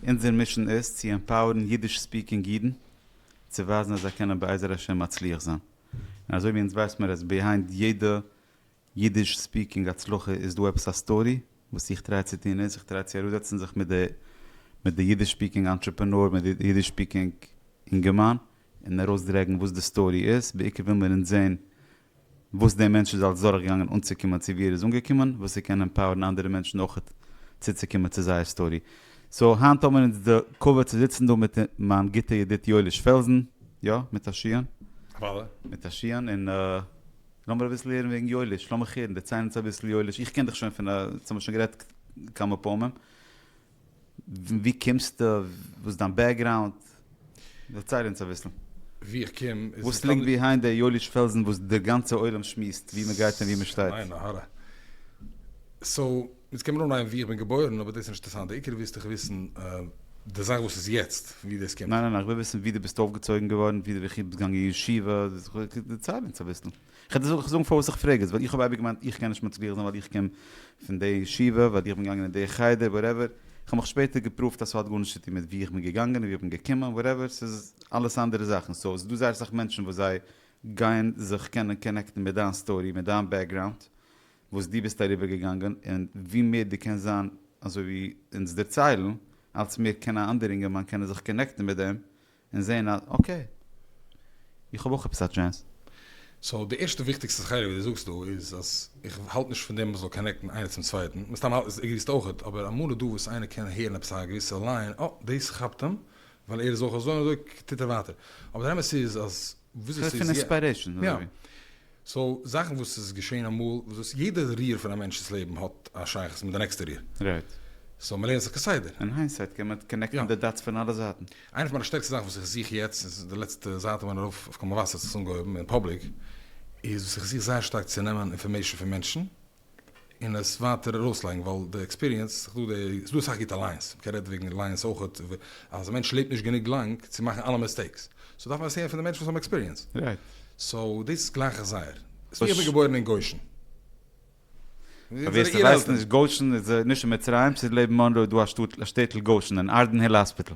אונזער מישען איז צו עמפאוערן אידיש ספיקינג אידן צו ווייזן אז זיי קענען בעזר השם מצליח זיין, און אזוי ווי אונז ווייס מיר אז ביהיינד יעדע אידיש ספיקינג הצלחה איז דא עפעס א סטארי, וואס איך טריי צו טון איז, איך טריי צו אראפזעצן זיך מיט די אידיש ספיקינג אנטרעפענאר, מיט די אידיש ספיקינג אינגערמאן, און ארויסדרעגן וואס די סטארי איז, בעיקר וויל מיר אונז זען וואס דער מענטש איז אלץ דורכגעגאנגען אנצוקומען צו ווי ער איז אנגעקומען, וואס ער קען עמפאוערן אנדערע מענטשן אויכעט צוצוקומען צו זייער סטארי. סאו היינט האבן מיר אונז די כבוד צו זיצן דא מיט מיין גוטע ידיד יואליש פעלזן, יא, מיט א שיען. וואלע. מיט א שיען, און לאמיר אביסל הערן וועגן יואליש, לאמיך הערן, דערצייל אונז אביסל יואליש, איך קען דיך שוין פון א, אונז האבן שוין גערעדט כמה פעמים. ווי קומסטו? וואס איז דיין בעקגראונד? דערצייל אונז אביסל. ווי איך קום איז. וואס ליגט ביהיינד דער יואליש פעלזן וואס דער גאנצער עולם שמועסט ווי מען גייט און ווי מען שטייט? עיין הרע. סאו, אונז קען מען אנהייבן ווי איך בין געבוירן, אבער דאס איז נישט אינטערעסאנט, דער עיקר ווילסט דאך וויסן די זאך וואס איז יעצט, ווי דאס קומט. ניין ניין, איך וויל וויסן ווי דו ביסט אויפגעצויגן געווארן, ווי דו ביסט געגאנגען אין ישיבה, דערצייל אונז אביסל. כ'וועל דיר זאגן פארוואס איך פרעג עס, ווייל איך האב אייביג געמיינט איך קען נישט מצליח זיין ווייל איך קום פון די ישיבה, ווייל איך בין געגאנגען אין די חדר, וואטעווער, איך האב מיך שפעטער געפראווט אז ס'האט גארנישט צו טון מיט וואו איך בין געגאנגען און וואו איך בין געקומען, וואטעווער, ס'איז אלעס אנדערע זאכן, סאו ס'דא זייער אסאך מענטשן וואס זיי גייען זיך קענען קאנעקטן מיט דיין סטארי, מיט דיין בעקגראונד, וואס דו ביסט אריבער געגאנגען, און ווי מער דו קענסט זיין אזוי ווי אונז דערציילן, אלץ מער קען א אנדער אינגערמאן קענען זיך קאנעקטן מיט דעם, און זעהן אז אקעי. איך האב אויך עפעס א טשענס. סאו די ערשטע וויכטיגסטע חלק וואס דו זאגסט דא איז אז איך האלט נישט פון דעם מען זאל קאנעקטן איינער צום צווייטן, מן הסתם עגריסטו אויך, אבער אמאל איז דא וואס איינער קען הערן עפעס א געוויסע ליין, אה דאס כאפט אים ווייל ער איז אויך אזוי און אזוי טוט ער ווייטער. אבער דער אמת איז אז וויאזוי ס'איז יעצט. פון עספיירעישאן אדער ווי? סאו זאכן וואס איז געשען אמאל, וואס יעדע ריר פון א מענטש'ס לעבן האט א שייכות מיט די נעקסטע ריר. רייט. סאו מ'לערנט זיך כסדר. אין היינדסייט קען מען קאנעקטן די דאטס פון אלע זייטן. איינע פון מיינע שטערקסטע זאכן וואס איך זוך יעצט, איז די לעצטע זייט ווען ארויף אויף קאמאוואסער האט עס אנגעהויבן אין פאבליק, איז וואס איך זוך זייער שטארק צו נעמען אינפארמעישן פון מענטשן, און עס ווייטער ארויסלייגן ווייל די עקספיריענס, ס'איז דא אסאך גוטע לייענס, מ'קען רעדן וועגן לייענס אויכעט, אז א מענטש לעבט נישט גענוג לאנג צו מאכן אלע מיסטעיקס, סאו דארף מען עס הערן פון די מענטשן וואס האבן עקספיריענס. סאו דאס גלייך איך זייער. ס'איז ווי איך בין געבוירן אין גושן. פאר ווער ס'ווייסט נישט, גושן איז נישט אין מצרים, ס'איז לעבן מאנרוי איז דא א שטאט, א שטעטל גושן, אין ארדענהיל האספיטעל.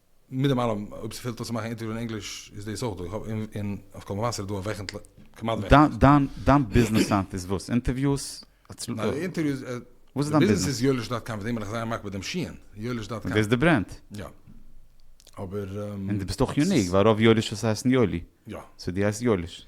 מיט דעם אלעם, אויב ס'פעלט אויס צו מאכן אינטערוויו אין ענגליש, איז דאס אויך דא, און אויף קול מבשר איז דא וועכנטליך, כמעט וועכנטליך. דיין ביזנעס סייט איז וואס? אינטערוויוס? וואס איז דיין ביזנעס? די ביזנעס איז יואליש דאט קאם, מיט דעם בין איך זייער מקפיד מיט דעם שיען, יואליש דאט קאם. דאס איז די ברענד? יא. אבער. און דו ביסט אויך יוניק, ווייל רוב יואליש'ס הייסן יואלי. יא. סאו דו הייסט יואליש.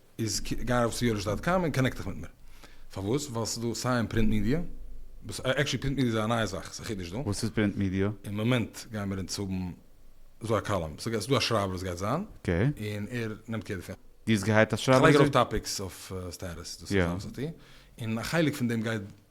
איז גיי ארויף צו יואליש דאט קאם און קאנעקט דיך מיט מיר. פארוואס? ווייל ס'איז דא סיי אין פרינט מידיע, וואס עקשעלי פרינט מידיע איז א נייע זאך, ס'איז א חידוש דא. וואס איז פרינט מידיע? אין מאמענט גיימער אונז האבן ס'דא א קאלום, ס'איז דא א שרייבער וואס גייט זיין, אקעי. און ער נעמט קער דערפון. דו האסט געהייערט א שרייבער? כ'לייג ארויף טאפיקס אויף סטעטוס, דאס איז אלעס וואס איך טו, און א חלק פון דעם גייט.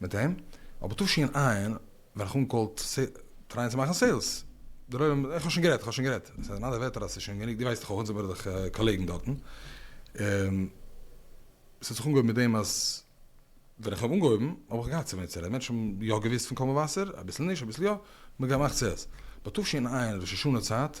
מיט אים, אבער תשי ע ווען איך אנקאלט טרייען צו מאכן סעילס, דער עולם איך האב שוין גערעדט, איך האב שוין גערעדט, עס איז אין אלע ווערטער אז עס איז שוין גענוג, דו ווייסט דאך אויך אונז זעמיר דאך קאלעגן דארטן, און עס האט זיך אנגעהויבן מיט דעם אז ווען איך האב אנגעהויבן האב איך געהאט צו וועם צו רעדן, מענטשן האבן יא געוואוסט פון קול מבשר, אביסל נישט, אביסל יא, מען האט געמאכט סעילס, ביי תשי ע ראש השנה צייט,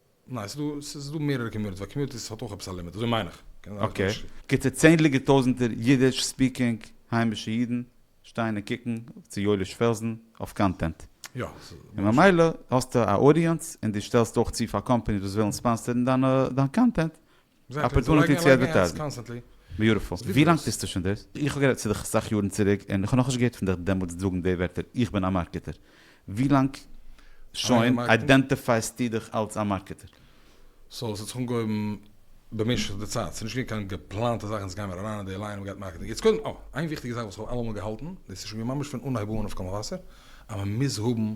ניין, ס'איז דא, ס'איז דא מערערע קאמיוניטיס, ווייל קאמיוניטיס האט אויך עפעס א לימיט, אזוי מיין איך, קען זיין איך טוה נישט. גוטע צענדליגער טויזענטער אידיש ספיקינג היימישע אידן שטייען און קוקן צו יואליש פעלזן אויף קאנטענט. יא, ס'איז און ממש. ממילא האסטו א אודיענס און דו שטעלסט אויך צו פאר קאמפעניס וואס ווילן ספאנסערן דיין קאנטענט, אפערטונעטי צו אדווערטייזן. ביוטיפול. ווי לאנג טוסטו שוין דאס? איך האב גערעדט צו דיך אסאך יארן צוריק און איך האב נאכנישט געהערט פון דיך דעמאלטס זאגן די ווערטער איך בין א מארקעטער. ווי לאנג שוין איידענטיפייסטו דיך אלס א מארקעטער? סאו ס'האט זיך אנגעהויבן במשך די צייט, ס'נישט געווען קיין געפלאנטע זאך אונז גיימיר אריין אין די ליין און מ'גייט מארקעטן יעצט קודם אה איין וויכטיגע זאך וואס כ'האב אלעמאל געהאלטן דאס איז שוין געווען ממש פון אנהייב אן אויף קול מבשר אז מ'מוז האבן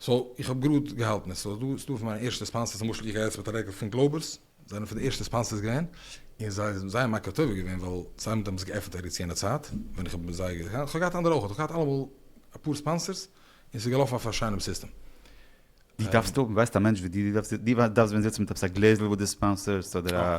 סאו איך האב גראד געהאלטן עס סאו דא איז דא פון מיינע ערשטע ספאנסערס למשל איך גיי יעצט מיט א רעקל פון גלאובערס זיי זענען פון די ערשטע ספאנסערס געווען און זיי זענען זייער מכה טובה געווען ווייל זיי האבן דעמאלטס געעפענט ארץ יענע צייט ווען איך האב מיט זיי געהאט איך האב געהאט אנדערע אויך איך האב געהאט אלעמאל אפאר ספאנסערס און ס'איז געלאפן אויף א שיינעם סיסטעם. דו דארפסט האבן ווייסט א מענטש ווי דיר דו דארפסט ווען זיצן מיט עפעס א גלעזל וואס די ספאנסערסט אדער א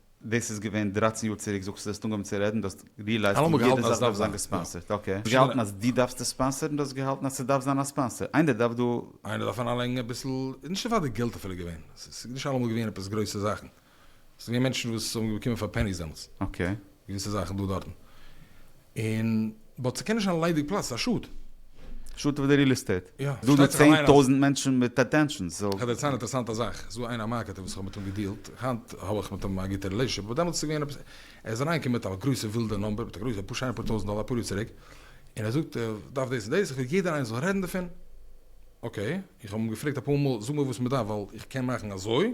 דאס איז געווען דרײַצן יאר צוריק זאגסטו זאלסט אנגעהויבן צו רעדן דו האסט ריעלייזט אז יעדע זאך דארף זיין געספאנסערט אקעי האסט געהאלטן אז דו דארפסט עס ספאנסערן דו האסט געהאלטן אז ס'דארף זיין א ספאנסער איינער דארף דא איינער דארף אריינלייגן אביסל נישט נאר פאר די געלט אפילו געווען ס'איז נישט אלעמאל געווען עפעס גרויסע זאכן ס'איז געווען מענטשן וואס האבן באקומען פאר פעניס דעמאלטס געוויסע זאכן דא דארטן. און באט ס'קען נישט זיין ליידיג פלאץ, ס'איז א שאד. שאד פאר די ריעל עסטעיט. יא, ס'פארשטייט זיך אליין אז. דא איז דא צען טויזענט מענטשן מיט אטענשאנס, סאו. כ'וועל דיר ציילן א אינטערעסאנטע זאך, ס'איז דא איינער א מארקעטער וואס כ'האב מיט אים געדיעלט, היינט האב איך מיט אים א גוטע רילעישאנשיפ, אבער דעמאלטס איז געווען עפעס, ער איז אריינגעקומען מיט א גרויסע ווילדע נומבער, מיט א גרויסע, אפאר שיינע פאר טויזענט דאלאר אפאר יאר צוריק, און ער זאגט ער דארף דאס און דאס, איך וויל יעדער איינער זאל רעדן דערפון, אקעי, איך האב אים געפרעגט אפאר מאל, זאג מיר וואס מ'דארף ווייל איך קען מאכן אזוי,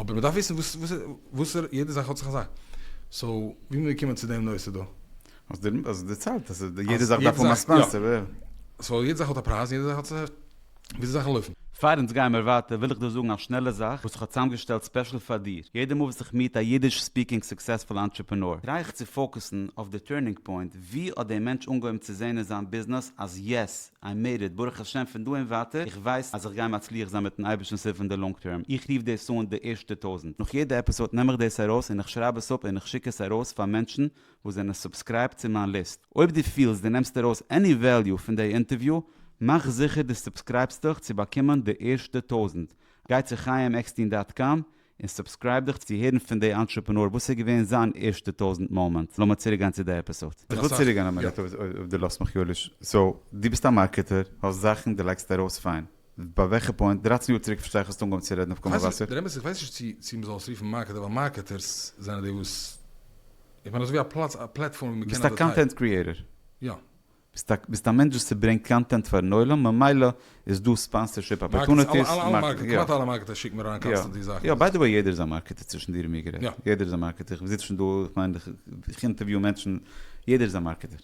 אבער מ'דארף וויסן וואס וואסערע יעדע זאך האט זיך אזא. סאו ווי מיר קומען צו דעם נושא דא. האסט דיר האסט דערציילט אז יעדע זאך דארף האבן א ספאנסער. סאו יעדע זאך האט א פרייז און יעדע זאך האט זיך וויאזוי זאכן לויפן. פאר אונז גיימער ווייטער וויל איך דא זאגן א שנעלע זאך וואס איך האב צוזאמגעשטעלט ספעשל פאר דיר. יעדע מאל וואס איך מיעט א אידיש ספיקינג סוקסעספול אנטרעפענאר טריי איך צו פאוקעסן אויף די טורנינג פוינט, ווי האט דער מענטש אנגעהויבן צו זעהן אין זיין ביזנעס אז יעס, איי מעיד איט, ברוך השם פון דא און ווייטער איך ווייס אז איך גיי מצליח זיין מיטן אייבערשטנ'ס הילף אין די לאנג טערם, איך רוף דאס אן די ערשטע טויזענט, נאך יעדע עפיסאד נעם איך דאס ארויס און איך שרייב עס אפ און איך שיק עס ארויס פאר מענטשן וואס זענען סובסקרייבט צו מיין ליסט, אויב דו פילסט דו נעמסט ארויס עני וועליו פון די אינטערוויו מאך זיכער דו סובסקרייבסט דיך צו באקומען די ערשטע טויזענט, גיי צו חיים עקסטין דאט קאם און סובסקרייב דיך צו הערן פון די אנטרעפענאר וואס איז געווען זיין ערשטע טויזענט מאמענט, לאמיר צוריק גיין צו די עפיסאד. איך וויל צוריק גיין א מינוט אויב דו לאזט מיך יואליש, סאו דו ביסט א מארקעטער, האסט זאכן, דו לייגסט ארויס פיין, ביי וועלכע פוינט, דרייצן יאר צוריק פארשטיי איך האסט אנגעהויבן צו רעדן אויף קול מבשר, דער אמת איך ווייס נישט צו צו מ'זאל עס רופן מארקעטער ווייל מארקעטערס זענען די וואס איך מיין אזויווי א פלאץ א פלעטפארם ווי מ'קען אדווערטייזן. ביסט א קאנטענט קריעטער. יא. ביסט א מענטש וואס סברענגט קאנטענט פארן עולם ממילא איז דא ספאנסערשיפ אפערטונעטיס, מארקעטינג, יא, כמעט אלע מארקעטער שיקן מיר אריין קאנסטענטלי זאכן, יא, ביי די וועי יעדער איז א מארקעטער צווישן דיר און מיר גערעדט, יעדער איז א מארקעטער, כ'זיץ שוין דא, כ'מיין איך אינטערוויו מענטשן, יעדער איז א מארקעטער,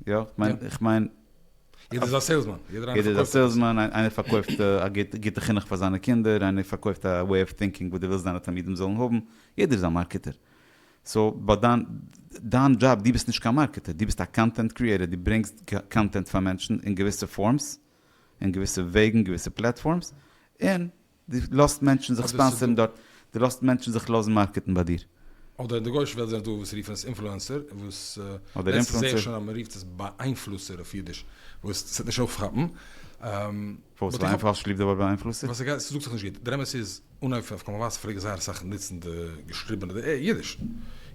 יא, כ'מיין. יעדער איז א סעילסמאן, יעדער איינער פארקויפט עפעס, יעדער איז א סעילסמאן, איינער פארקויפט א גוטע חינוך פאר זיינע קינדער, איינער פארקויפט א וועי אוו טינקינג וואס דו ווילסט דיינע תלמידים זאלן האבן, יעדער איז א מארקעטער. סאו באט דיין דיין דזשאב, דו ביסט נישט קיין מארקעטער, דו ביסט א קאנטענט קריעטער, דו ברענגסט קאנטענט פאר מענטשן אין געוויסע פארמס, אין געוויסע וועגן, געוויסע פלעטפארמס, און דו לאזט מענטשן זיך ספאנסערן דארט, דו לאזט מענטשן זיך לאזן מארקעטן ביי דיר. אדער אין די גויאישע וועלט זענען דא וואס רופן עס אינפלוענסער, וואס לעצטנס זעה איך שוין אז מען רופט עס באאיינפלוסער אויף אידיש, וואס ס'וועט נישט אויפכאפן. פארוואס איז איינפאל שליט א באאיינפלוסט? ווייל ס'גייט, ס'זאגט זיך נישט גוט. דער אמת איז, אן אויף אויף קאמאוואס פלעג איך זייער אסאך נוצן די געשריבענע די עי אידיש. און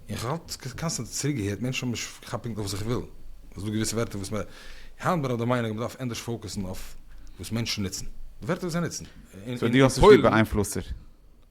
איך האב אלץ קאנסטענט צוריקגעהערט מענטשן האבן נישט געכאפט פונקט אויף וואס איך וויל. ס'איז דא געוויסע ווערטער וואס מען, היינט בין איך דער מיינונג מ'דארף ענדערש פאוקוסן אויף וואס מענטשן נוצן. די ווערטער וואס זיי נוצן. סאו דו האסט נישט ליב באאיינפלוסטער?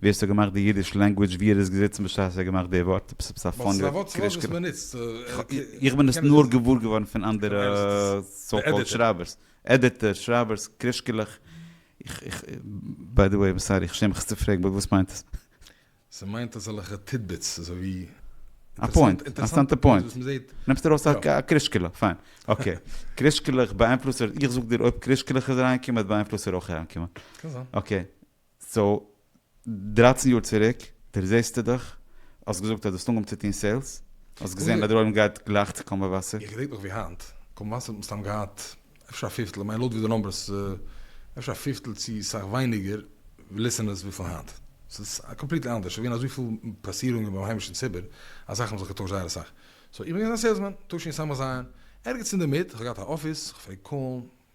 ווי האסטו געמאכט די אידיש לענגווידזש ווי ער איז געזיצן בשעת ער האט געמאכט די ווארט? עפעס עפעס א פאני ווארט? ווייל ס'איז א ווארט וואס מען ניצט. איך בין עס נאר געוואר געווארן פון אנדערע סאו קאלד שרייבערס, עדיטערס, שרייבערס, קרישקעלעך. איך איך ביי די וועי איים סארי איך שעם מיך עס צו פרעגן באט וואס מיינט עס? ס'מיינט אזעלכע טידביטס אזוי ווי. א פוינט, אינטערסאנטע פוינט. נעמסט ארויס א קרישקעלע, פיין. אקעי. קרישקעלעך באאיינפלוסער, איך זאג דיר אויב קרישקעלעך איז אריינגעקומען האט באאיינפלוסער אויך אריינגעקומען. קען זיין. אקעי. סאו דרײַצן יאר צוריק דערזעסטו דיך, האסט געזאגט אז דו האסט אנגעהויבן צו טון סעילס, האסט געזען אז דער עולם גייט גלייך צו קאמבא וואסער. איך געדענק נאך ווי היינט, קאמבא וואסער האט מסתם געהאט אפשר א פיפטל, כ'מיין לויט ווי די נאמבערס, אפשר א פיפטל צו סאך ווייניגער ליסענערס ווי פון היינט. ס'איז קאמפליטלי אנדערש, ס'געווען אזויפיל פאסירונגען ביים היימישן ציבור אז זאכן האבן זיך געטוישט זייער אסאך. סאו איך בין געווען א סעילסמאן, תשי ס המז א, ערגעץ אינדערמיט, כ'האב געהאט א אפיס, כ'פלעג קאלן,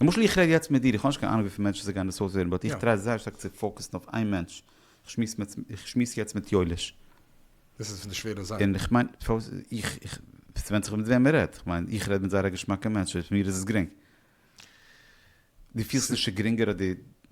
למשל איך רעד יעצט מיט דיר, איך האב נישט קיין אנונג וויפיל מענטשן ס'גייען דאס אויסהערן, באט איך טריי זייער שטארק צו פאוקעסן אויף איין מענטש, איך שמועס יעצט מיט יואליש. דאס איז פון די שווערע זאכן. און איך מיין, ס'ווענדט זיך מיט וועם מען רעדט, כ'מיין איך רעד מיט זייער א געשמאקע מענטש, פאר מיר איז עס גרינג. דו פילסט נישט ס'גרינגער אז די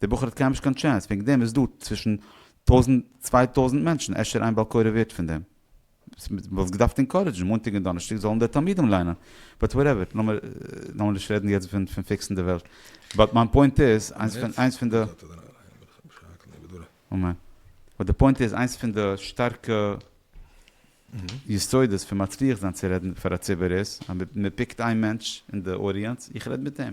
די בחור האט קייםנישט קיין טשענס, וועגן דעם איז דא צווישן טויזנט צוויי טויזנט מענטשן, אפשר איין בעל קורא ווערט פון דעם. וואלסט געדארפט אינקארעדזשן מאנטאג און דאנערשטאג זאלן די תלמידים ליינען, באט וואטעווער, לאמיר נישט רעדן יעצט פון פיקסן די וועלט, באט מיין פוינט איז, איינס פון די. אמן. באט די פוינט איז, איינס פון די שטארקע יסודות פון מצליח זיין צו רעדן פאר א ציבור איז, אז מען פיקט איין מענטש אין די אודיענץ, איך רעד מיט אים.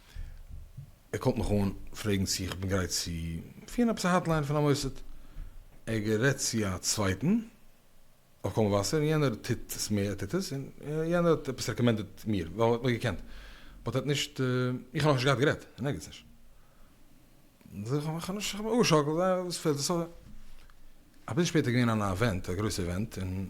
ער קאלט מיך אן פרעגן צו איך בין גרייט צו פירן עפעס א האטליין פון א מוסד, ער גערעדט צו א צווייטן אויף קול מבשר און יענער טוט עס מער, ער טוט עס, און יענער האט עפעס רעקאמענדעט מיר, ווייל ער האט מיך געקענט, באט ער האט נישט, איך האב נאכנישט געהאט גערעדט, און ערגעץ נישט. זאג איך, כ'האב נישט, כ'האב מיך אפגעשאקלט, זיי, וואס פעלט, ס ה. אביסל שפעטער איז געווען אן אווענט, א גרויסע אווענט, און.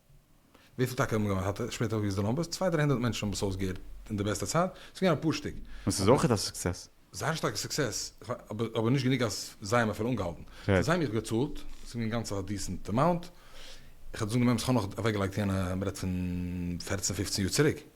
וויפיל טאקע האבן געוואנען? האט ער שפעטער אויפגעזאגט די נומבערס, צוויי דריי הונדערט מענטשן האבן עס אויסגעהערט אין די בעסטע צייט, עס איז געווען א פארשטאג. און ס'איז אויכעט א סוקסעס. זייער שטארקע סוקסעס, אבער נישט גענוג אז זיי האבן אפילו אנגעהאלטן. פאר זיי האב איך געצאלט, ס'איז געווען גאנץ א דיסענט אמאונט, איך האב דאס אנגענומען אז כ'האב נאך אוועקגעלייגט יענע, מ'רעדט פון פֿערצן פֿופֿצן יאר צוריק.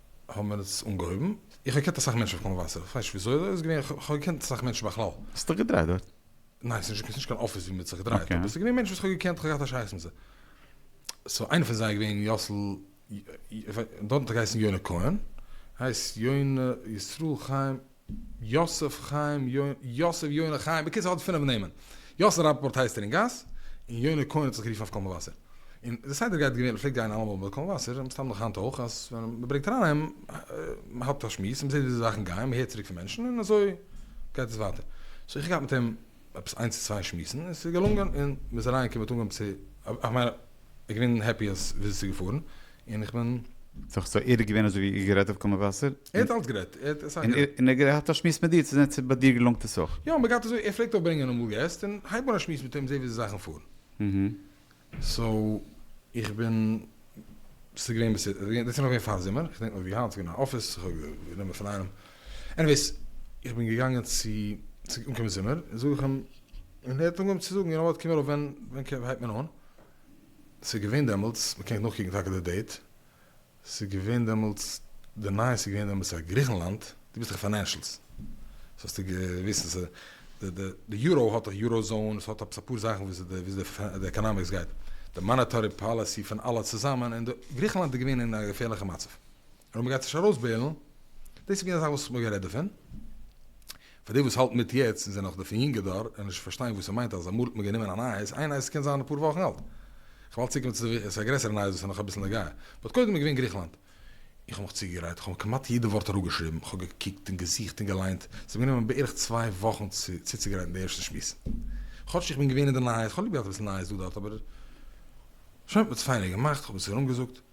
האבן מיר עס אנגעהויבן, איך האב געקענט אסאך מענטשן אויף קול מבשר, איך ווייס נישט וויאזוי אזוי איז געווען, איך האב געקענט אסאך מענטשן בכלל. האסט דיך געדרייט דארט? ניין, ס'איז נישט קיין אפיס ווי מ'האט זיך געדרייט, אבער ס'איז געווען מענטשן וואס איך האב געקענט, איך האב געהאט א שייכות מיט זיי. סאו איינער פון זיי איז געווען יאסל, דארטן האט ער געהייסן יונה כהן, ער הייסט יונה ישראל חיים, יוסף חיים יוסף יונה חיים בקיצור האט פינעף נעמען יוסף ראפאפארט הייסט ער אין גאס און יונה כהן האט זיך גערופן אויף קול מבשר און די סדר גייט געווען פלעגט גיין אלעמאל ביי קול מבשר מסתם נאך היינט אויך אז ווען מ'ברענגט אריין איהם מ'האט א שמועס מ'זעהט ווי די זאכן גייען מ'הערט צוריק פון מענטשן און אזוי גייט עס ווייטער סאו איך האב געהאט מיט אים עפעס איינס צו צוויי שמועסן און ס'איז געלונגען און מ'איז אריינגעקומען מ'האט אנגעהויבן צו, איך מיין איך בין געווען העפי אז וויאזוי ס'איז געפארן און איך בין. סאו ער איז געווען אזוי ווי איר גערעדט אויף קול מבשר? ער האט אלץ גערעדט, ער האט אסאך גערעדט. און ער האט געהאט א שמועס מיט דיר צו זען צו ביי דיר געלונגט עס אויך? יא, מ'גייט אזוי, ער פלעגט אויך ברענגען אמאל געסט און הייב אן א שמועס מיט אים זעה וויאזוי זאכן פארן. סאו איך בין ס'איז געווען בעיסיט דאס איז נאך געווען פאר זומער איך דענק נאך ווי היינט ס'איז געווען אין אפיס איך האב גענומען פון איינעם עניוועיס איך בין געגאנגען צו צו אנקומען זומער זאג איך אים און ער האט אנגעהויבן צו זאגן יונאוואט קום ארויף ווען ווען הייבט מען אן ס'איז געווען דעמאלטס מ'קען נאכקוקן טאקע די דעיט. ס'איז געווען דעמאלטס די נייעס איז געווען דעמאלטס אז גריכנלאנד, דו ביסט דאך פינענשלס סאו האסטו געוויסט אז די יורא האט דאך יורא זאון, עס האט עפעס אפאר זאכן וויאזוי די עקאנאמיקס גייט, די מאנעטארי פאליסי פון אלע צוזאמען, און גריכנלאנד איז געווען אין א געפערליכע מצב, און מ'גייט נישט ארויסבעילן, דאס איז געווען א זאך וואס מ'האט גערעדט דערפון, פאר די וואס האלטן מיט יעצט און זענען נאך די פון יונגע דור און נישט פארשטיין וואס ס'מיינט אז אמאל האט מען גענומען א נייעס, איין נייעס קען זיין אפאר וואכן אלט, כ'האב אלץ צוגעגעבן צו ס'איז א גרעסערע נייעס וואס איז נאך אביסל נוגע, באט קודם איז געווען גריכלאנד. איך האב מיך צוגעגרייט, כ'האב כמעט יעדע ווארט אראפגעשריבן, כ'האב געקוקט און געזוכט און געליינט, ס'האט מיר גענומען בערך צוויי וואכן צו צוצוגרייטן די ערשטע שמועס. כאטש איך בין געווען אין די נייעס, כ'האב ליב געהאט אביסל נייעס דא דארט אבער שוין, כ'האב עס פיינער געמאכט, כ'האב עס ארומגעזאגט,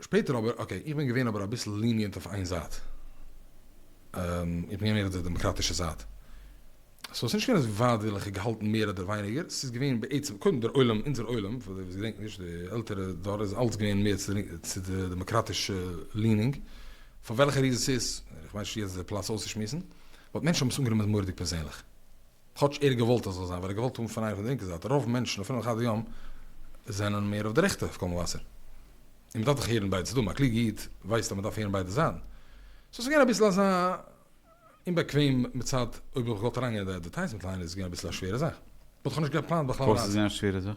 שפעטער אבער, אקעי, איך בין געווען אבער אביסל ליניענט אויף איין זייט. איך בין געווען מער אויף די דעמאקראטישע זייט. סאו ס'איז נישט געווען אז ווייט וויל איך געהאלטן מער אדער ווייניגער, ס'איז געווען בעצם, קודם דער עולם, אונזער עולם, פאר די וואס געדענקן נישט, די עלטערע דור איז אלץ געווען מער צו די דעמאקראטישע לינינג. פאר וועלכע ריזען ס'איז, איך מיין נישט יעצט די פלאץ אויסצושמועסן, באט מענטשן האבן עס אנגענומען מורא'דיג פערזענליך. כאטש ער האט געוואלט אז זאל זיין ווייל ער האט געוואלט האבן פון אייך די לינקע זייט, רוב מענטשן אפילו אחד היום זענען מער אויף די רעכטע אויף קול מבשר, און מ'דארף דאך הערן ביידע צדדים, א קלוגע איד ווייסט אז מ'דארף הערן ביידע זייטן, סאו ס'איז געווען אביסל אזא אומבאקוועם מצד אויב איך וואלט געוואלט אריינגיין אין די עדווערטייזמענט ליין איז עס געווען אביסל א שווערע זאך, וואלט איך נישט געפלאנט בכלל פארוואס איז ריין. געווען א שווערע זאך?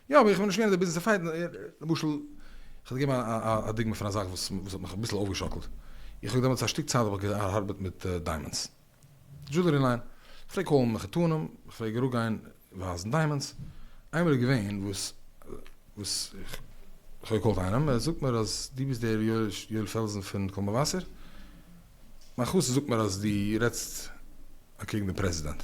יא אבער איך בין נישט געווען אין די ביזנעס אויף פייט, למשל איך וועל געבן א דוגמא פון א זאך וואס האט מיך אביסל אויפגעשאקלט, איך האב דעמאלטס א שטיק צייט האב איך געארבעט מיט דיימאנדס דזשולערי ליין, איך פלעג קאלן מחותנים, איך פלעג אראפ גיין ווייזן דיימאנדס, איינמאל איז געווען וואס וואס איך האב געקאלט איינעם, ער זאגט מיר אז דו ביסט דער יואל פעלזן פון קול מבשר, מיין חתן זאגט מיר אז דו רעדסט אקעגן דעם פרעזידענט.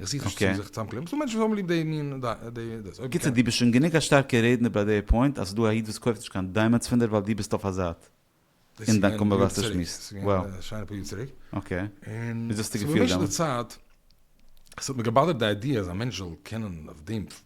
איך זוך נישט צו זיך צוזאמקלעבן, ס'דא מענטשן וואס האבן ליב די מין דאס. בקיצור דו ביסט שוין גענוג א שטארקע רעדנער ביי די פוינט אז ס'דא א איד וואס קויפט נישט קיין דיימענטס פון דיר ווייל דו ביסט אויף א זייט אין דיין קאנווערסאציע שמועסט. ס'איז געווען א שיינע פאר יאר צוריק. אקעי. און. וויאזוי האסטו געפילט דעמאלטס? ס'האט מיר געבאדערט די איידיע אז א מענטש זאל קענען אויף דעם.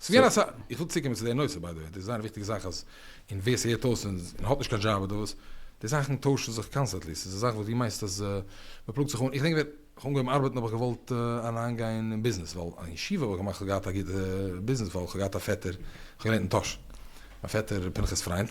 ס'געווען אסא, איך וויל צוקומען צו די נושא ביי די וועי, דאס איז זייער א וויכטיגע זאך אז, און ווער ס'הערט אויס און און האט נישט קיין דזשאב אדער וואס, די זאכן טוישן זיך קאנסטענטלי, ס'איז א זאך וואס דו מיינסט אז מ'פלאגט זיך אן, איך געדענק ווען כ'האב אנגעהויבן ארבעטן האב איך געוואלט אריינגיין אין ביזנעס, ווייל אין ישיבה האב איך געמאכט, כ'האב געהאט א גוטע ביזנעס ווייל כ'האב געהאט א פעטער, כ'האב געלערנט אין טאהש, מיין פעטער פנחס פריינד.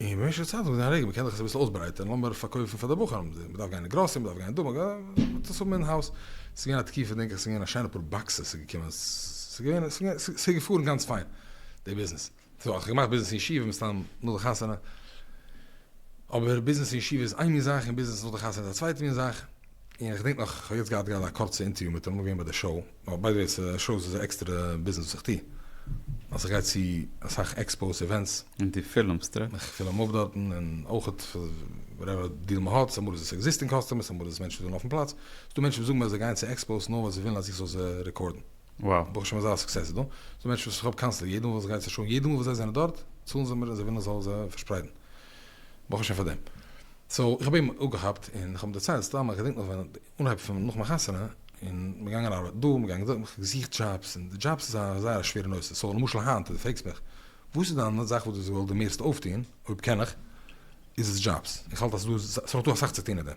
און במשך צייט האט מען געזען א רגע מ'קען דאך עס אביסל אויסברייטערן, לאמיר פארקויפן פאר די בחורים, מ'דארף גיין אין גראסערי, מ'דארף גיין דא, מ'דארף גיין, מ'טוט עס האבן אין האוז, ס'איז געווען א תקופה דענק איך ס'איז געווען א שיינע פאר באקסעס ס'איז געקומען, ס'איז געווען, ס'איז געפארן גאנץ פיין די ביזנעס, סאו האב איך געמאכט ביזנעס אין ישיבה מסתם נאך די חתונה, אבער ביזנעס אין ישיבה איז איין מין זאך און ביזנעס נאך די חתונה איז א צווייטע מין זאך. און איך געדענק נאך, כ'האב יעצט געהאט גראדע א קורצע אינטערוויו מיט אים, געווען ביי די שאו, ווייל ביי די וועי ס'איז א שאו ס'איז א עקסטערע ביזנעס וואס איך טו, אז איך גיי צו אסאך עקספאוס איווענטס, און דו פילמסט אויך? איך פילם אויף דארטן, און אויך וואטעווער דיל מ'האט, ס'אמאל איז עס עקזיסטינג קאסטומערס, אמאל איז עס מענטשן וואס ווילן אויפן פלאץ, ס'דא מענטשן וואס זאגן מיר אז זיי גייען צו עקספאוס נאר ווייל זיי ווילן אז איך זאל זיי רעקארדן, וואו. ברוך השם אזא סוקסעס איז דא, ס'דא מענטשן וואס איך האב קאנסטענטלי, יעדע מאל וואס איך גיי צו א שאו, יעדע מאל וואס זיי זענען דארט, צאלן זיי מיר אז זיי ווילן איך זאל זיי פארשפרייטן. ברוך השם פאר דעם. סאו איך האב אים אפגעכאפט און איך האב אים דערציילט, סתם איך געדענק נאך ווען אנהייב פון נאך מיין חתונה און מ'געגאנגען ארבעטן דא מ'געגאנגען דארט, איך האב געזוכט דזשאבס און די דזשאבס איז א זייער א שווערע נושא, סאו למשל היינט דו פרעגסט מיך וואס איז דיין זאך וואס דו ווילסט די מערסטע אויפטון, אויב קען איך, איז עס דזשאבס, איך האלט אז ס'דא אסאך צו טון אין דעם.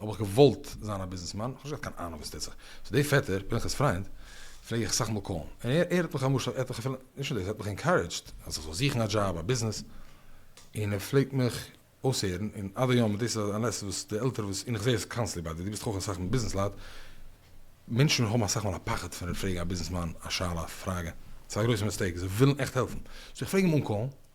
האב איך געוואלט זיין א ביזנעסמאן, איך האב נישט געהאט קיין אהנונג וואס טוט זיך, סאו די פעטער, פנחס פריינד, פלעג איך אסאך מאל קאלן, און ער ער האט מיך למשל, ער האט מיך אפילו, נישט נאר דאס, ער האט מיך אינקארעדזשד אז איך זאל זוכן א דזשאב, א ביזנעס, און ער פלעגט מיך אויסהערן, און עד היום, דאס איז א לעסן וואס די עלטערע וואס, און איך זע עס קאנסטלי ביי דיר, דו ביסט אויך אסאך מיט ביזנעס לייט, מענטשן האבן אסאך מאל א פחד פון פרעגן א ביזנעסמאן א שאלה, א פראגע, ס'איז א גרויסע מיסטעיק, זיי ווילן עכט העלפן, סאו איך פלעג אים אנקאלן,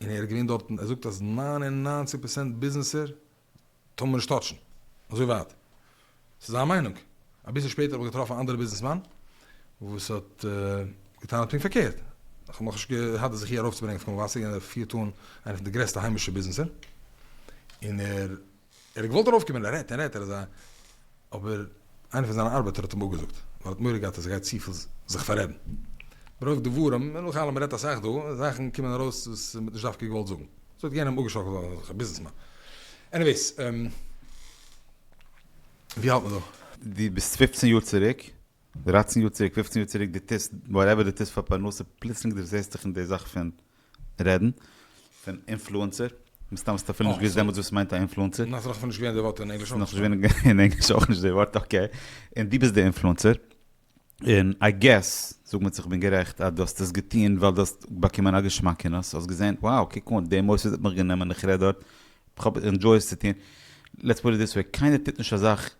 און ער איז געווען דארטן, ער זאגט אז נײַן און נײַנציק פראצענט ביזנעסער טאר מען נישט טאטשן, אזוי ווייט, ס'איז זיין מיינונג, אביסל שפעטער האב איך געטראפן א אנדערע ביזנעסמאן וואס האט געטענהט פונקט פארקערט, איך האב נאכנישט געהאט די זכי' ארויפצוברענגען אויף קול מבשר, און ער פירט אן איינע פון די גרעסטע היימישע ביזנעסער, און ער. ער האט געוואלט ארויף קומען, ער רעדט און רעדט, ער איז א. אבער איינער פון זיינע ארבעטער האט אים אפגעזאגט, ווייל ער האט מורא געהאט אז ער גייט צופיל זיך פאררעדן מרוב דברים, און נאך אלעם מ'רעדט אסאך דא, זאכן קומען ארויס וואס מ'האט נישט דווקא געוואלט זאגן. ס'האט יענעם אפגעשאקלט ווייל ער איז דאך א ביזנעסמאן. עניוועיס. ווי האלט מען דא? דו ביסט פופצן יאר צוריק, דרייצן יאר צוריק, פופצן יאר צוריק, דו טוסט וואטעווער דו טוסט פאר פרנסה, פלוצלינג דערזעסטוך אין די זאך פון רעדן פון אינפלוענסער, מסתם האסטו אפילו נישט געוואוסט דעמאלטס וואס ס'מיינט א אינפלוענסער. נאך ס'נאך אפילו נישט געווען די ווארט אין ענגליש אויך. ס'נאך נישט געווען אין ענגליש אויך נישט די ווארט אקעי, און דו ביסט די אינפלוענסער, און איי געס, זאג מיר צו כ'בין גערעכט, אז דו האסט עס געטון ווייל דו האסט באקומען א געשמאקענעס, האסט געזען wow קוק אן די מוסד האט מיך גענומען איך רעד דארט, כ'האב ענדזשוי עס צו טון, לעטס פוט איט דיס וועי, קיינער טוט נישט אזאך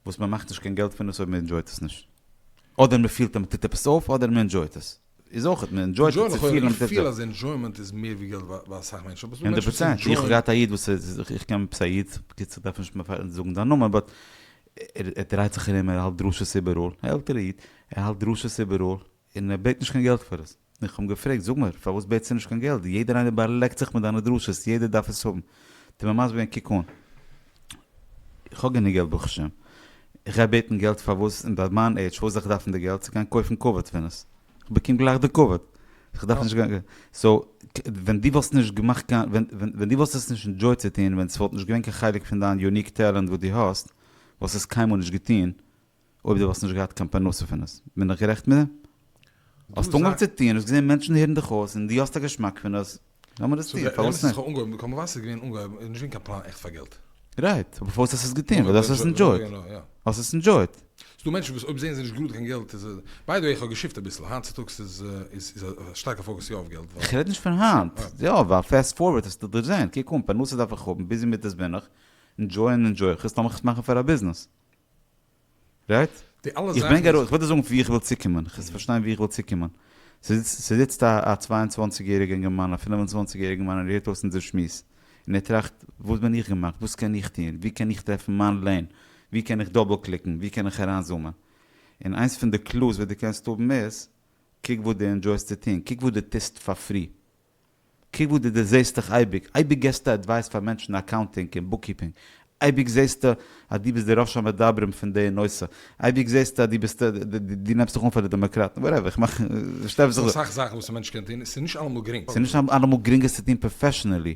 וואס מען מאכט נישט קיין געלט פון עס אויב מען ענדזשויט עס נישט. אדער מען פילט אז מען טוט עפעס אויף אדער מען ענדזשויט עס. איז אויך מען ענדזשויט עס צו פיל אז מען טוט עפעס אויף. איך פיל אז ענדזשוימענט איז מער ווי געלט ביי אסאך מענטשן. אבער עס דא מענטשן וואס ענדזשויען. איך האב געהאט א איד וואס איז איך קען עפעס א איד, בקיצור דארף נישט זאגן זיין נאמען באט ער דרייט זיך ארום ער האלט דרשות איבעראל, עלטערע איד, ער האלט דרשות איבעראל, און ער בעט נישט קיין געלט פאר עס. און איך האב אים געפרעגט, זאג מיר, פארוואס בעטסטו נישט קיין געלט? יעדער איינער באלעקט זיך מיט דיינע דרשות, יעדער דארף עס האבן. טו מיר מסביר געווען, קוק אן, איך האב גענוג געלט ברוך השם, איך גיי בעטן געלט פארוואס? און ביי מיין עידזש, פארוואס זאל איך דארפן די געלט? צו גיין קויפן כבוד פון עס? איך באקום גלייך די כבוד. איך דארף נישט גיין. סאו, ווען דו וואלסט נישט געמאכט קיין, ווען דו וואלסט עס נישט ענדזשויט צו טון, ווען עס וואלט נישט געווען קיין חלק פון דיין יוניק טעלענט וואס דו האסט, וואלסטו עס קיינמאל נישט געטון, אויב דו וואלסט נישט געהאט קיין פרנסה פון עס, בין איך גערעכט מיט דעם? האסט אנגעהויבן צו טון, האסט געזען מענטשן הערן דיך אויס און דו האסט א געשמאק פון עס, לאמיר עס טון, פארוואס נישט? כמובן ס'איז געווען אנגעהויבן, איז נישט געווען קיין פלאן עכט פאר געלט. רייט, אבער פארוואס האסט עס געטון? ווייל דו האסט עס ענדזשויט. האסט עס ענדזשויט. ס'דא מענטשן וואס אויב זעען זיי נישט גראד קיין געלט איז עס, ביי די וועי איך האב געשיפט אביסל, היינט צוטאגס איז א שטארקע פאקוס יא אויף געלט ווייל. איך רעד נישט פון היינט, יא ווייל פעסט פארווערד האסטו דערזען, קוק אן, פרנסה דארף איך האבן, ביזי מיט עס בין איך, ענדזשויען ענדזשוי איך עס, לאמיך עס מאכן פאר א ביזנעס. רייט? די אלע זאכן איז. איך וויל דיר זאגן ווי איך וויל צוקומען, איך פארשטיין ווי איך וויל צוקומען. ס'זיצט א צוויי און צוואַנציק יעריגע אינגערמאן, א פינף און צוואַנציק יעריגע מאן און ער הערט אויס אונזער שמועס, און ער טראכט, וואס בין איך געמאכט? וואס קען איך טון? וואו קען איך טרעפן מיין לעין? וואו קען איך דאבל קליקן? וואו קען איך אריינזומען? און איינס פון די קלוס וואס דו קענסט האבן איז, קוק וואס דו ענדזשויסט צו טון, קוק וואס דו טוסט פאר פרי. קוק וואו דו דערזעהסט דיך אייביג, אייביג געסטו עדווייס פאר מענטשן אין אקאונטינג און בוקקיפינג, אייביג זעהסטו אז דו ביסט די ראש המדברים פון די נושא, אייביג זעהסטו אז דו ביסט, דו נעמסט זיך אן פאר די דעמאקראטן, וואטעווער, איך מאך, איך שטעל זיך. ס'דא אסאך זאכן וואס א מענטש קען טון, ס'איז נישט אלעמאל גרינג. ס'איז נישט אלעמאל גרינג עס צו טון פראפעשענעלי.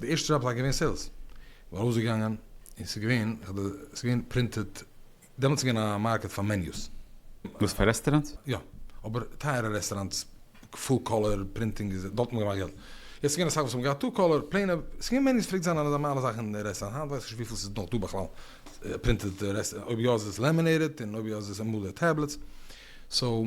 די ערשטע זשאב זיי געווען סעילס, כ'בין ארויסגעגאנגען און ס'איז געווען כ'האב ס'געווען פרינטעד, דעמאלטס איז געווען א מארקעט פאר מעניוס. וואס פאר רעסטעראנטס? יא, אבער טייערע רעסטעראנטס, פול קאלער פרינטינג איז דארט האט מען געמאכט געלט, יעצט איז געווען אסאך וואס האבן געהאט טו קאלער, פלעינע, ס'איז געווען מעניוס פלעגט זיין א נארמאלע זאך אין רעסטעראנט, היינט ווייס איך נישט וויפיל ס'איז נאך דא בכלל פרינטעד, אויב יא איז עס לעמינעיטעד און אויב יא איז עס אמאל טעבלעטס, סאו.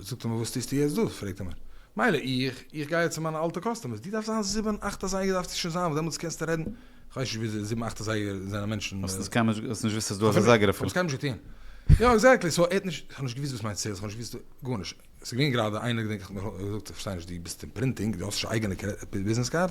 זאגט ער מיר וואס טוסטו יעצט דא? פרעגט ער מיר. מילא איך, איך גיי יעצט צו מיינע אלטע קאסטומערס, דו דארפסט זיין זיבן אכט אזייגער דארפסטו שוין זיין וואס דעמאלטס קענסטו רעדן, איך ווייס נישט ווי זיבן אכט אזייגער זענען מענטשן. האסט עס קיינמאל נישט, האסט נישט געוואוסט אז דא איז א אזייגער אפילו? כ'האב עס קיינמאל נישט געטון. יא עקזעקטלי, סאו ער האט נישט, כ'האב נישט געוואוסט וואס מיינט סעילס, כ'האב נישט געוואוסט גארנישט, ס'איז געווען גראדע איינער געדענק איך האט מיר געזאגט איך פארשטיי נישט דו ביסט אין פרינטינג, דו האסט נישט א אייגענע ביזנעס קארד?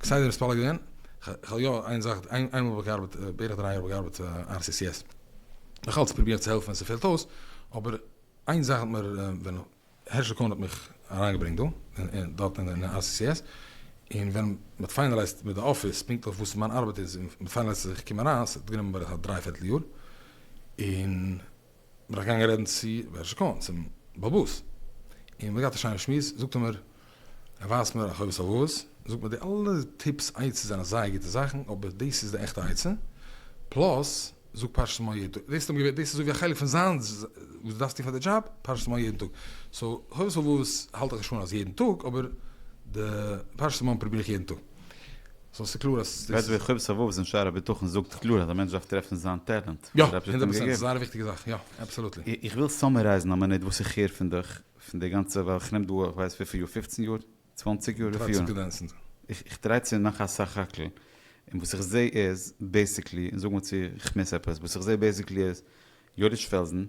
כסדר מתפלל געווען, כ'האב יא איין זאך, איין מאל האב איך געארבעט, בערך דריי יאר האב איך געארבעט פאר RCCS, נאך אלץ פרובירט צו העלפן ווען ס'פעלט אויס, אבער איין זאך האט מיר, ווען הערשל קאהן האט מיך אריינגעברענגט דא, און דארט אין RCCS, און ווען מ'האט פיינעלייזט מיט די אפיס פונקטליך וואס מיין ארבעט איז, און מ'פיינעלייזט אז איך קום אריין, ס'האט גענומען בערך א דריי פערטל יאר, און. בין איך געגאנגען רעדן צו בעל שכון, צום בעל בתּ, און מ'האט געהאט א שיינע שמועס, זאגט ער מיר, ער ווייזט מיר א חובת הלבבות, זאגט מיר די אלע טיפס עצות זענען זייער גוטע זאכן, אבער דאס איז די עכטע עצה, פלאס, זאג פרשת מו ה יעדן טאג, דאס האט אים געווען, דאס איז אזויווי א חלק פון זיין, וואס דו דארפסט טון פאר די דזשאב, פרשת מו ה יעדן טאג, סאו חובת הלבבות האלט איך נישט אן אז יעדן טאג, אבער די פרשת מו ה פרוביר איך יעדן טאג. סאו ס'איז קלאר אז דאס איז. חובת הלבבות אין שער הביטחון זאגט קלאר אז א מענטש דארף טרעפן זיין טעלענט וואס דער אייבישטער האט אים געגעבן. יא, הונדערט פראצענט, זייער א וויכטיגע זאך, יא, אבסאלוטלי. איך וויל סאמערייזן א מינוט וואס איך הער פון דיך, פון די גאנצע, ווייל איך נעם דא איך ווייס וויפיל יאר, פופצן יאר? צוואנציג יאר? וויפיל יאר? איך טריי צו מאכן א סך הכל, און וואס איך זעה איז בעיסיקלי, און זאג מיר צו איך מיס עפעס, וואס איך זעה בעיסיקלי איז, יודיש פעלזן,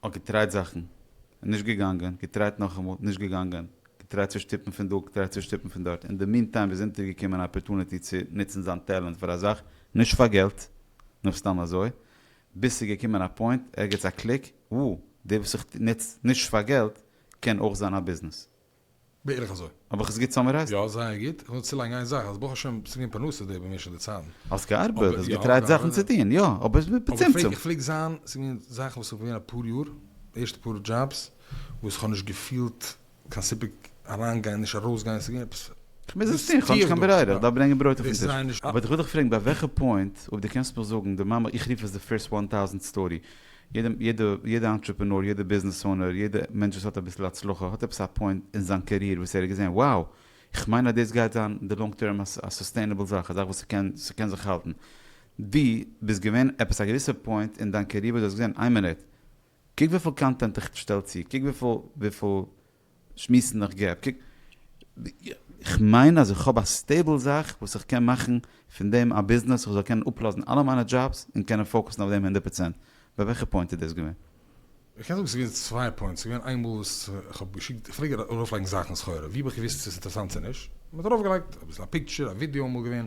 האט געטרייט זאכן, נישט געגאנגען, געטרייט נאכאמאל, נישט געגאנגען, געטרייט צו שטופן פון דא, געטרייט צו שטופן פון דארט, אין די מין טיים איז אונטער געקומען א אפערטוניטי צו נוצן זיין טעלענט פאר א זאך, נישט פאר געלט, נאר סתם אזוי, ביז ס'איז געקומען א פוינט, ערגעץ א קליק, וואו, די וואס איך נוץ נישט פאר געלט, קען אויך זיין א ביזנעס. בערך אזוי. האב איך עס גוט סאמערייזט? יא, זייער גוט. איך וויל צולייגן איין זאך, אז ברוך השם ס'איז געווען פרנסה דא במשך די צייטן. האסט געארבעט, האסט געטרייט זאכן צו טון, יא, אבער בצמצום. איך פלעג זיין, ס'איז געווען זאכן וואס כ'בין געווען אפאר יאר, די ערשטע פאר דזשאבס, וואס כ'האב נישט געפילט קיין סיפוק אריינגיין, נישט ארויסגיין, ס'איז געווען עפעס. כ'מוז עס טון, כ'האב נישט קיין ברירה, כ'דארף ברענגען ברויט אויפן טיש. אבער איך וויל דיך פרעגן, ביי וועלכע פוינט, אויב דו קענסט נאך זאגן, די מאמע, איך רוף עס די פירסט וואן טאוזענט סטארי, יעדע יעדע אנטרעפענור, יעדע ביזנעס אונער, יעדע מענטש וואס האט אביסל הצלחה האט עפעס א פוינט אין זיין קעריער וואס ער האט געזען wow איך מיין אז דאס גייט זיין אין די לאנג טערם א סוסטעינעבל זאך, א זאך וואס ס'קען ס'קען זיך האלטן. דו ביסט געווען עפעס א געוויסע פוינט אין דיין קעריער וואס דו האסט געזען איין מינוט קוק וויפיל קאנטענט איך שטעל צו, קוק וויפיל וויפיל. שמועסן איך געב קוק איך מיין אז איך האב א סטעיבל זאך וואס איך קען מאכן פון דעם א ביזנעס איך זאל קענען אפלאזן אלע מיינע דזשאבס און קענען פאוקוסן אויף דעם הונדערט פראצענט ביי וועלכע פוינט איז דאס געווען? איך קען זאגן ס'איז געווען צוויי פוינטס ס'איז געווען איינמאל וואס איך האב געשיקט איך פלעג ארויף לייגן זאכן סחורה ווי האב איך געוויסט צו ס'איז אינטערעסאנט צו נישט מ'האט ארויף געלייגט אביסל א פיקטשער א ווידיאו אמאל געווען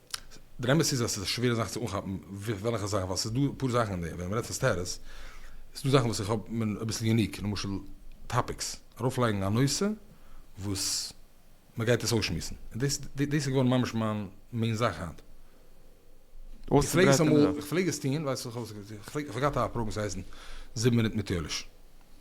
דער אמת איז אז ס'איז א שווערע זאך צו אנכאפן וועלכע זאכן, ווייל ס'איז דא אפאר זאכן אין דעם, ווען מ'רעדט פון סטעטוס, איז דא זאכן וואס איך האב מין אביסל יוניק, למשל טאפיקס, ארויפלייגן א נושא וואס מ'גייט עס אויסשמועסן, און דאס דאס איז געווארן ממש מיין מעין זאך היינט. איך פלעג עס אמאל, איך פלעג עס טון, ווייסט וואס, איך פארגעט א פראגראם וואס הייסן זיבן מינוט מיט יואליש.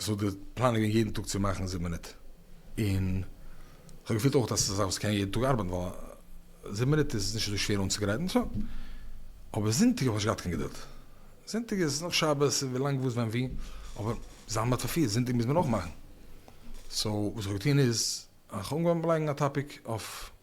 סאו די פלאן איז געווען יעדן טאג צו מאכן זיבן מינוט, און כ'האב געפילט אויך אז ס'איז א זאך וואס קען יעדן טאג ארבעטן ווייל זיבן מינוט איז נישט אזוי שווער אנצוגרייטן, סא. אבער זונטאג האב איך נישט געהאט קיין געדולד, זונטאג איז נאך שבת און ווילאנג וואס ווען ווי, אבער זיין בת פארפירט, זונטאג מוז מען אויך מאכן, סאו וואס איך האב געטון איז, איך האב אנגעהויבן לייגן א טאפיק אויף.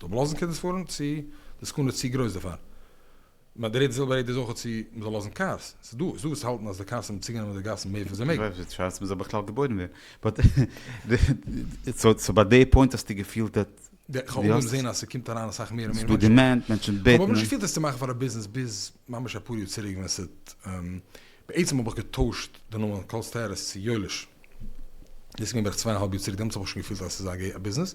זאל מען לאזן קינדערס פארן צו די סכנה איז צו גרויס דערפאר? מיין דריטע זילבע רעדע איז אויכעט צו מען זאל לאזן קארס, ס'איז דא ס'איז דא וואס האלטן אז די קארס האבן צוגענומען די גאסן מער פון זיי מעגן. די שאלה צו מען זאל בכלל געבוירן ווערן. באט סאו ביי די פוינט האסטו געפילט דעט. איך האב אנגעהויבן זעהן אז ס'קומט אריין אסאך מער און מער מענטשן. ס'איז דא דימענד, מענטשן בעטן. איך האב אבער נישט געפילט עס צו מאכן פאר א ביזנעס ביז ממש אפאר יאר צוריק ווען ס'האט בעצם האב איך געטוישט די נאמען קהל'ס טערעס צו יואליש. דאס איז געווען בערך צוויי און א האלב יאר צוריק דעמאלטס האב איך שוין געפילט אז ס'איז א ביזנעס.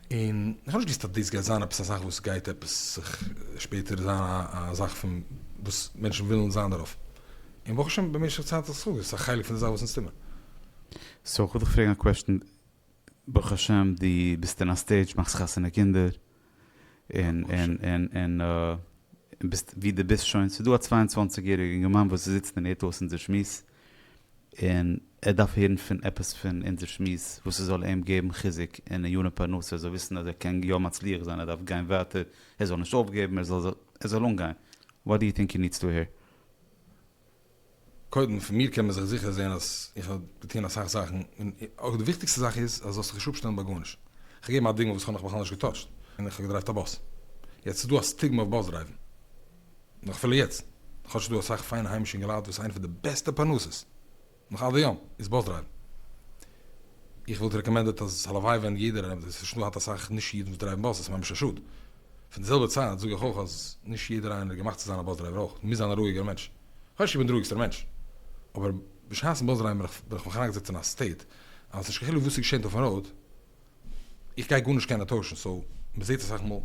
און איך האב נישט געוואוסט אז דאס גייט זיין עפעס א זאך וואס גייט עפעס זיך שפעטער זיין א זאך פון וואס מענטשן ווילן זיין דערויף. און ברוך השם במשך צייט האט עס זיך אויסגעזאגט, עס איז א חלק פון די זאך וואס אונז טו מיר. סאו כ'וועל דיך פרעגן א קוועשטן, ברוך השם דו ביסט אין א סטעידזש, מאכסט חתונה קינדער, און און און און און ביסט ווי דו ביסט שוין, ס'איז דא א צוויי און צוואַנציק יעריגע אינגערמאן וואס זיצט און הערט אויס אונזער שמועס, און ער דארף הערן פון עפעס פון אונזער שמועס וואס עס זאל אים געבן חיזוק און עיון פרנסה ער זאל וויסן אז ער קען יא מצליח זיין ער דארף גיין ווייטער ער זאל נישט אויפגעבן ער זאל ער זאל אנגיין וואט דו יו טינק הי נידס טו הער? קודם, פון מיר קען מען זיך זיכער זען אז איך האב געטון אסאך זאכן, און אויך די וויכטיגסטע זאך איז אז זאלסט זיך נישט אפשטעלן ביי גארנישט. איך געב א דוגמא וואס איך האב נאך בכלל נישט געטאטשט, און איך האב געדרייווט א באס. יעצט ס'איז דא א סטיגמע אויף באס דרייוון. נאך אפילו יעצט, כאטש ס'דא אסאך פיינע היימישע אינגע לייט וואס איינע פון די בעסטע פרנסות נאך עד היום איז באס דרייוון. איך וואלט רעקאמענדעט אז הלוואי ווען יעדער עס וואלט נישט האט אסאך נישט אידן וואס דרייוון באס, עס איז ממש א שאד. פון די זעלבע צייט זאג איך אויך אז נישט יעדער איינער איז געמאכט צו זיין א באס דרייווער אויך, מ'מוז זיין א רואיגער מענטש. כאטש איך בין די רואיגסטער מענטש. אבער בשעת'ן באס דרייוון בין איך מיך אריינגעזעצט אין א סטעיט אז ס'נישט קיין חילוק וואס ס'געשענט אויפן ראוד, איך גיי גארנישט קענען טוישן סאו מ'זעהט אסאך מאל.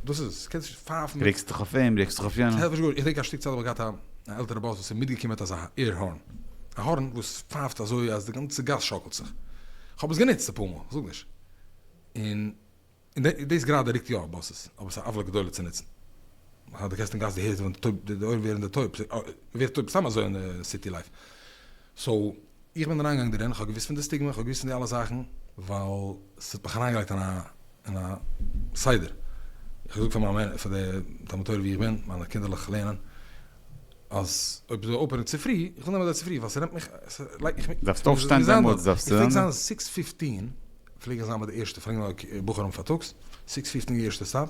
דאס איז עס. קענסט נישט פייפן מיט. רעגסט דיך אויף אים, רעגסט דיך אויף יענעם. ס'העלפט נישט גארנישט. איך דענק א שטיק צייט האב איך געהאט א עלטערע באס וואס איז מיטגעקומען מיט אזא עיר הארן. א הארן וואס פייפט אזוי אז די גאנצע גאס שאקלט זיך. כ'האב עס גענוצט אפאר מאל, כ'זאג נישט. און און דאס גראדע רוקט יא באסעס. אבער ס'איז א עוולה גדולה צו נוצן. מחר די גייסט אין גאס די הערסט ווען די אויערן ווערן טויב. ווערט טויב סתם אזוי אין סיטי לייף. סאו. איך בין אריינגעגאנגען דערין, כ'האב געוואוסט פון די סטיגמע, כ'האב געוואוסט פון די אלע זאכן, ווייל ס'האט מיך אריינגעלייגט אין א אין א סדר, איך האב געזאגט פאר מיין פאר די תלמוד תורה ווי איך בין, מיינע קינדערלעך לערנען, אז אויב זאל אויפהערן צופרי, איך וויל נעמען זיי צופרי, ווייל ס'נעמט מיך, ס'לייגט מיך מיר דארפסט אויפשטיין דעמאלטס דארפסטו איך פלעג זיין זעקס פיפטין, פלעג איך זיין ביי די ערשטע, פרעגן בחורים פארטאגס, סיקס פיפטין די ערשטע סטאפ,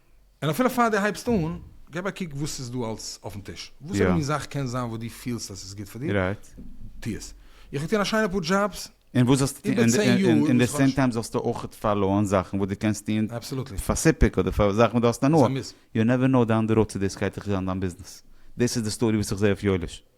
און אפילו פאר דו הייבסט אן, געב א קוק וואס ס'איז דא אלס אויפן טיש. וואס אימער מין זאך קען זיין וואס דו פילסט אז ס'איז גוט פאר דיר, טו עס. איך האב געטון א שיינע פאר דזשאבס איבער צען יאר. און אין די סעים טיים זאלסטו אויך פאלאוען זאכן וואס דו קענסט טון פאר סיפוק אדער פאר זאכן וואס דו האסט הנאה. יו נעווער נאו, דאון דע ראוד צו דאס גייט זיך זיין דיין ביזנעס. דאס איז די סטארי וואס איך זע אויף יואליש.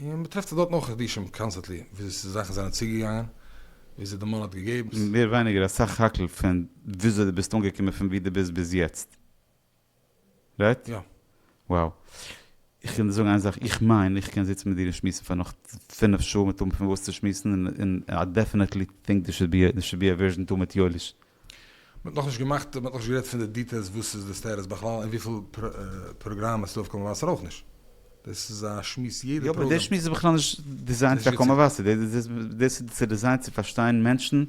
און מען טרעפט עס דארטן אויך חידושים קאנסטענטלי וויאזוי זאכן זענען צוגעגאנגען וויאזוי די מאן האט געגעבן. מער ווייניגער א סך הכל פון וויאזוי דו ביסט אנגעקומען פון ווי דו ביסט ביז יעצט. רייט? יא. wow. איך קען דיר זאגן איין זאך, איך מיין איך קען זיצן מיט דיר און שמועסן פאר נאך פֿינף שעה מיט האבן פון וואס צו שמועסן און און איי דעפענעטלי טינק דער שוד בי דער שוד בי א ווערזשען טו מיט יואליש. מען האט נאכנישט געמאכט, מען האט נאכנישט גערעדט פון די דיטעילס וואס איז די סטעטוס בכלל און וויפיל פראגראמען ס'איז אויף קול מבשר אויך נישט. דאס איז א שמועס יעדע פראגראם. יא אבער די שמועס איז בכלל נישט דיזיינט פאר קול מבשר, דאס איז צו דיזיינט צו פארשטיין מענטשן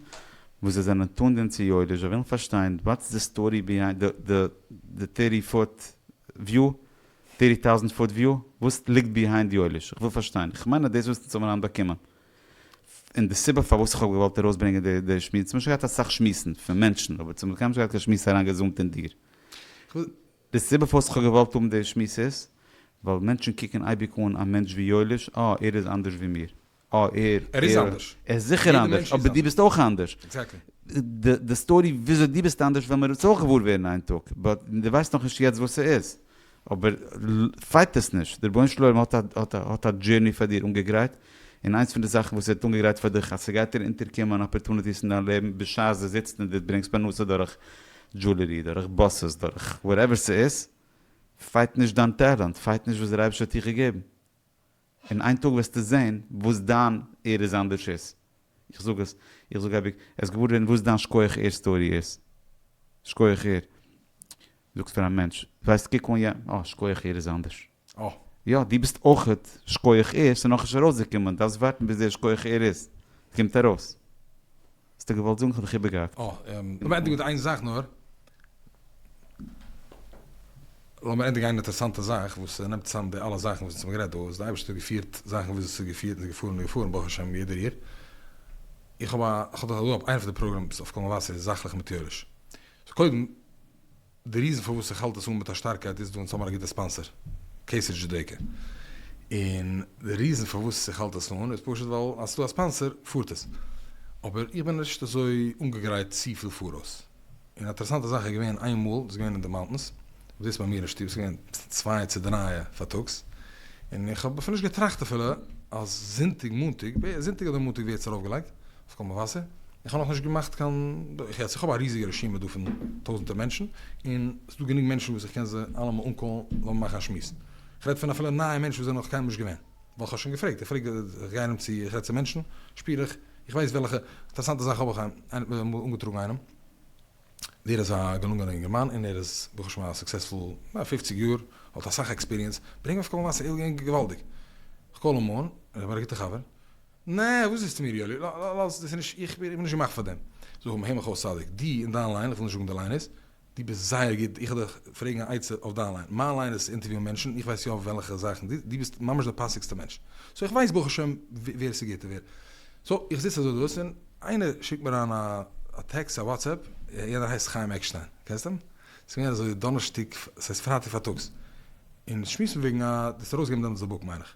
וואס זיי זענען טוען דעם צו יודיש, זיי ווילן פארשטיין וואטס די סטארי ביהיינד די טערטי פוט וויו, טערטי טאוזענט פוט וויו, וואס ליגט ביהיינד יודיש, איך וויל פארשטיין, איך מיין אז דאס וואס אונז האבן היינט באקומען. און די סיבה פארוואס איך האב געוואלט ארויסברענגען די די שמועס, צומאל נישט געהאט אסאך שמועסן פון מענטשן, אבער צומאל קיינמאל נישט געהאט קיין שמועס אריין געזונט אין דיר. די סיבה פארוואס איך האב געוואלט האבן די שמועס איז, ווייל מענטשן קוקן אייביג אן א מענטש ווי יואליש, אה ער איז אנדערש ווי מיר. אה ער, ער איז אנדערש. ער איז זיכער אנדערש, אבער דו ביסט אויך אנדערש. עקזעקטלי. די די סטארי וויאזוי דו ביסט אנדערש וועלן מיר אונז אויך געוואר ווערן איין טאג, באט דו ווייסט נאכנישט יעצט וואס ס'איז. אבער פייט עס נישט, דער רבונו של עולם האט א דזשערני פאר דיר אנגעגרייט, און איינס פון די זאכן וואס ער האט אנגעגרייט פאר דיך אז ס'גייט דיר אונטערקומען אפערטוניטיס אין דיין לעבן בשעת דו זיצט און דו ברענגסט פרנסה דורך דזשולערי, דורך באסעס, דורך וואטעווער ס'איז, פייט נישט דיין טעלענט, פייט נישט וואס דער אייבערשטער האט דיר געגעבן. און איין טאג וועסטו זעהן וואס דיין ער איז אנדערש איז. איך זאג עס, איך זאג אייביג, עסט געוואר ווערן וואס דיין שכוח ער סטארי איז. שכוח ער. זאגסט פאר א מענטש, ווייסט קוק אן יענעם, אה שכוח ער איז אנדערש. אה. יא, דו ביסט אויכעט שכוח ער, ס'נאכנישט ארויסגעקומען, דארפסט ווארטן ביז דער שכוח ער איז קומט ארויס. האסט דאך געוואלט זאגן כ'האב דיך איבערגעהאקט. אה, און לאמיר ענדיגן מיט איין זאך נאר. לאמיר ענדיגן איין אינטערעסאנטע זאך וואס נעמט צוזאם די אלע זאכן וואס אונז האבן גערעדט דא, איז די אייבערשטער האט געפירט זאכן וויאזוי ס'איז געפירט און געפארן און געפארן ברוך השם יעדע ריר. איך האב א, כ'האב דאך דא א, איינע פון די פראגראמס אויף קול מבשר איז זאכליך מיט יואליש. סאו קודם. די ריזן פארוואס איך האלט עס אן מיט א שטארקייט איז דא אונז האבן א גוטע ספאנסער קעיסער דזשודעיקע און די ריזן פארוואס איך האלט עס אן איז פשוט ווייל אז ס'איז דא א ספאנסער פארט עס אבער איך בין נישט אזוי אנגעגרייט צופיל פאראויס און א אטערעסאנטע זאך איז געווען איין מאל דאס איז געווען אין די מאונטענס אויף דאס ביי מיר אין שטוב ס'איז געווען צוויי צו דרײַ פארטאגס און איך האב אפילו נישט געטראכט אפילו אז זונטאג מאנטאג זונטאג אדער מאנטאג ווערט עס ארויפגעלייגט. אויף קול מבשר, איך האב נאך נישט געמאכט קיין, איך עס איך האב א ריזיגע רשימה דא פון טויזענטער מענטשן, און עס איז דא גענוג מענטשן וואס איך קען זיי אלעמען אנקאלן לאמיר מאכן א שמועס, איך רעד פון אפילו נייע מענטשן וואס זענען נאך קיינמאל נישט געווען, ווייל איך האב שוין געפרעגט, איך פרעג איך גיי ארום צו איך רעד צו מענטשן, שפיר איך, איך ווייס וועלכע, אינטערעסאנטע זאך האב איך אמאל אנגעטראגן איינעם, דער איז א געלונגענע אינגערמאן און ער איז ברוך השם א סוקסעספול, א פופציג יאר, האט אסאך עקספיריענס, ברענג אים אויף קול מבשר, ער איז געווען געוואלדיג, איך קאל אים אן, ער איז מיר א גוטע חבר. נע, וואס זאגסטו מיר יואלי, לאז, דאס איז נישט, איך בין נישט געמאכט פאר דעם. זאג מיר העמעך אויס צדיק, דו און דיין ליין, איך וויל נישט זאגן די ליינערס, דו ביסט זייער גוט, איך וועל דיך פרעגן א עצה אויף דיין ליין, מיין ליין איז צו אינטערוויוען מענטשן, איך ווייס יא אויף וועלכע זאכן דו, דו ביסט ממש דער פאסיגסטער מענטש. סאו איך ווייס ברוך השם ווער ס'איז גוט און ווער. סאו איך זיץ אזוי דאס און איינער שיקט מיר אריין א טעקסט, א וואטסעפפ, יענער הייסט חיים עקשטיין, קענסט אים? ס'איז געווען אזוי דאנערשטאג, ס'הייסט פרייטאג פארטאגס, און שמועסן וועגן א, דו האסט ארויסגעגעבן דעמאלטס די בוק מיין איך.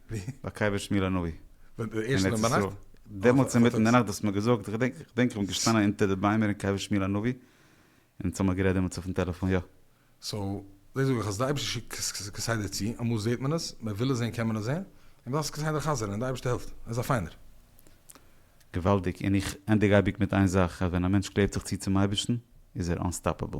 ביי קבר שמואל הנביא אין ארץ ישראל, דעמאלטס אינמיטן אין די נאכט דו האסט מיר געזאגט, איך געדענק איך בין געשטאנען אונטער די ביימער אין קבר שמואל הנביא, און אונז האמיר גערעדט דעמאלטס אויפן טעלעפאן, יא. סאו, דאס זאג איך אז די אייבערשטער שיקט כסדר צו, אמאל זעהט מען עס, מען וויל עס זעהן קען מען עס זעהן, און מ'דארף עס כסדר חזר'ן, און די אייבערשטער העלפט, ער איז א פיינער. געוואלדיג, און איך ענדיג אייביג מיט איין זאך, אז ווען א מענטש קלעבט זיך צו צום אייבערשטן, איז ער אנסטאפעבל.